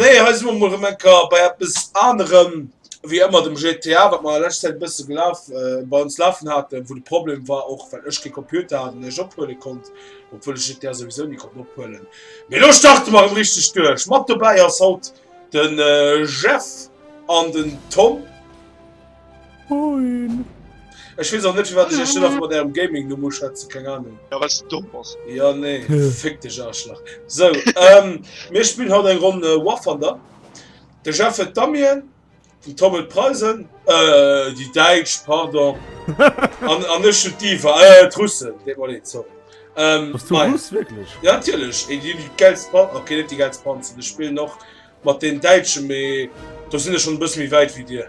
Nee, hei si mer mol rëm enker bei eppes anerem wéi ëmmer dem GTA, wat mer a leschter Zäit e bësse gelaf, äh, bei ons lafen haten, wou de Problem war, och well ech kee Computer hat an iech ophuele konnt, obwuel ech GTA souwisou ni konnt ophuelen. Mee elo starte mer erëm richteg duerch. Mat dobäi ass haut den Jeff an den Tom. Moin. Ech wees och net wat ech ech nach mat ärem Gaming no muss schwätzen keng Ahnung. Ja wat du domm bass. Ja nee fick dech Arschlach. So ähm mir spillen haut eng Ronn War Thunder. De Jeff huet d'Ammien, den Tom huet d'Preisen, äh déi Däitsch pardon an an ech hunn d'Diva, äh d'Russen deet mer leed sorry. Ähm Bass du Russ wierklech? Ja natierlech, déi hunn déi gäilst Panzer, okay net déi gäilst Panzer, ech spillen och mat den Däitschen mee do sinn ech schonn e bësse méi wäit wéi dir.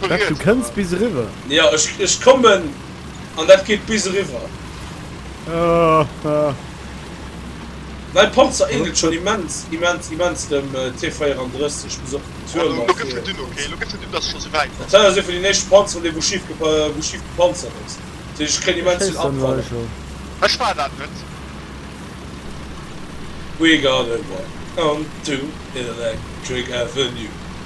Wett du kënns bis eriwwer. Jo ech kommen an dat geet bis eriwwer. Mäi Panzer eenelt schon immens immens immens dem T34, muss op den Tuerm a fir. Dat war esou vun den éischten Panzeren dee wou schif gepanzert ass, dat heescht ech kréien immens vill Abfall. We got a rock onto Electric Avenue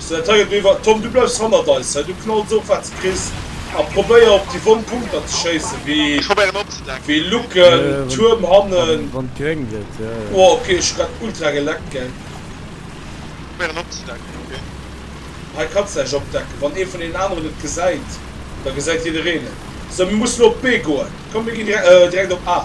Sir Tiger Beaver, Tom, du bleifs hannert eis hei, du knalls of wat s kriss a probéier op déi wonn Punkter ze schéissen, wéi. Ech probéieren opzedecken. Wéi Lucken, Tuerm hannen. Wann et gréng gëtt, jo. Oh ok, ech hu grad ultra geleckt, gell. Ech probéieren opzedecken, ok. Hei kanns de näischt opdecken, wann ee vun deenen aneren et gesäit, da gesäit jiddereen et. Sou, mir mussen op B goen. Komm, mir ginn direkt op A.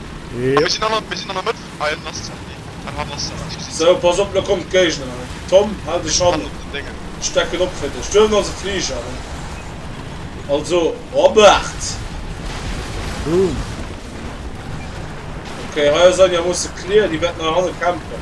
Sou, pass op, lo kommt d'Géigner an. Tom, hal dech hannen, ech decken op fir dech. Du hues also Fliger, ne? Also, Robert! Boom! Ok, hei ass einigermoosse clear, déi wäerten hei hanne campen.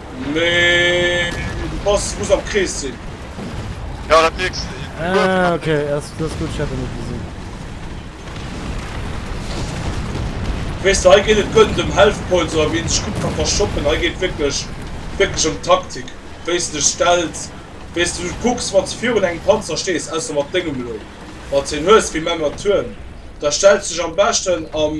Mee de Pass muss am Krees sinn. Jo dat mierks de. Ah ok ass dat ass gutt, ech hat en net gesinn. Weess de hei geet et guer net ëm Health Points oder wéi een sech gutt ka verschoppen, hei geet wierklech wierklech ëm Taktik, wéis de dech stells, wéis de kucks wanns de virun engem Panzer stees, ausser mat déngem elo, wanns de en hues wéi Mematuern, da stells de dech am beschten am.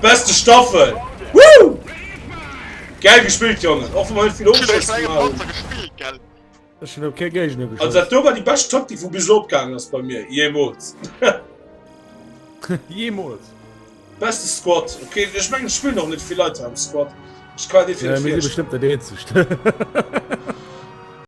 Beste Staffel! Woo! Geil gespillt, Jongen! Och wann vill war die best Taktik vu bis opgang ass bei mir jemols Jemols Beste Squad okay, ich mein, ich spiel noch net vill Leute am Squad. Ich kann bestimmt der de.